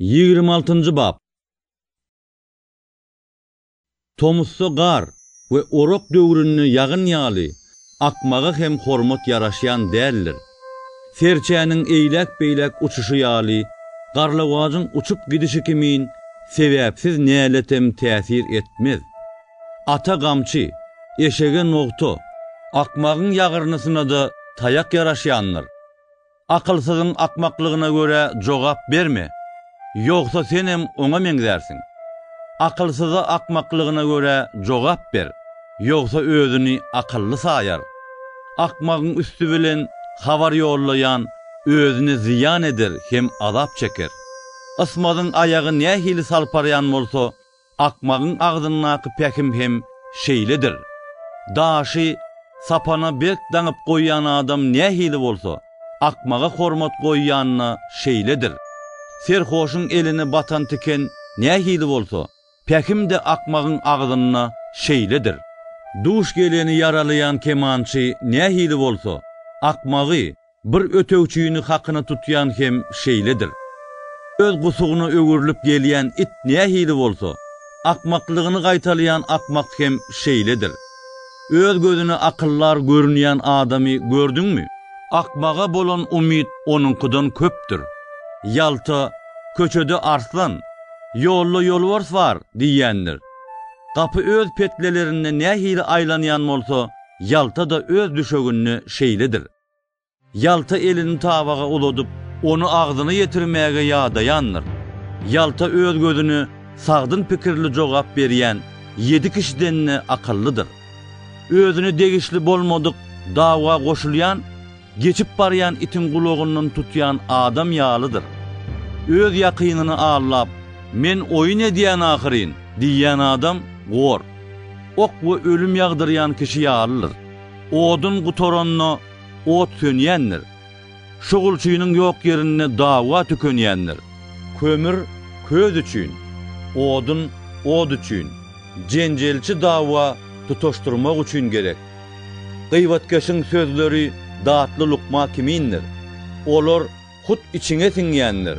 Ýigrimi altynjy bap. Tomusda gar we orak döwründe ýagyn ýaly akmaga hem hormat ýaraşýan däldir. Serçäniň eýläk-beýläk uçuşy ýaly garlawajyň uçup gidişi kimin sebäpsiz näletem täsir etmez. Ata gamçy, eşege nogta, akmagyň ýagyrnysyna-da taýak ýaraşýandyr. Akylsyzyň akmaklygyna görä jogap berme, ýogsa senem oňa meňzärsiň. Akylsyza akmaklygyna görä jogap ber, ýogsa özüni akylly saýar. Akmagyň üsti bilen habar ýollaýan özüne zyýan eder hem azap çeker. Ysmazyň aýagy nähili salparýan bolsa, Akmagyň agzyndaky pähim hem şeýledir. Daşy sapana berk daňyp goýýan adam nähili bolsa, akmaga hormat goýýan-da şeýledir. Serhoşyň eline batan tiken nähili bolsa, pähim-de akmagyň agzynda şeýledir. Duş geleni ýaralaýan kemançy nähili bolsa, akmagy Bir ötegçini hakyna tutýan hem şeýledir. Öz gusugyna öwrülip gelýän it nähili bolsa, akmaklygyny gaýtalaýan akmak hem şeýledir. Öz gözüne akyldar görünýän adamy gördüňmi? Akmaga bolan umyt onuňkydan köpdür. Ýalta, Köçede arslan, ýolda ýolbars bar diýýändir. Gapy öz petlelerinde nähili aýlanýan bolsa, ýalta-da öz düşeginde şeýledir. Ýalta elini tabaga uladyp, ony agzyna ýetirmäge ýadaýandyr. Ýalta öz gözüne sagdyn pikirli jogap berýän ýedi kişiden-de akyllydyr. Özüne degişli bolmadyk dawga goşulýan, geçip barýan itiň gulagyndan tutýan adam ýalydyr. Öz ýakynyny aldap, Men oýun edýän ahyryn! diýýän adam gor, ok we ölüm ýagdyrýan kişi ýalydyr. Odun gutaranda, ot sönýändir. Şugulçynyň ýok ýerinde dawa tükenýändir. Kömür, köz üçin, odun, ot üçin, jenjelçi dawa tutaşdyrmak üçin gerek. Gybatkeşiň sözleri datly lukma kimindir. Olar Hut içiňe siňýändir.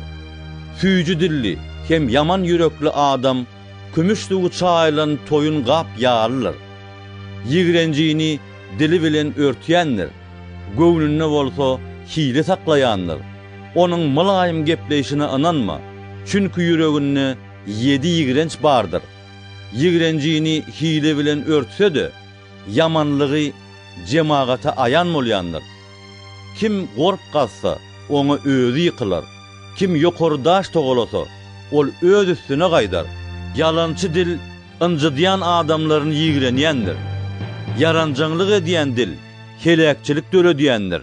Süýji dilli hem ýaman ýürekli adam kümüş suwy çaýylan toýun gap ýalydyr. Ýigrenjini dili bilen örtýändir, göwnünde bolsa hile saklaýandyr. Onuň mylaýym gepleýşine ynanma, çünki ýüreginde ýedi ýigrenç bardyr. Ýigrenjini hile bilen örtse-de, ýamanlygy jemagata aýan bolýandyr. Kim gorp gazsa, oňa özi ýykylar, kim ýokary daş togalasa, ol öz üstüne gaýdar. Ýalançy dil ynjydýan adamlaryny ýigrenýändir, ýaranjaňlyk edýän dil heläkçilik döredýändir.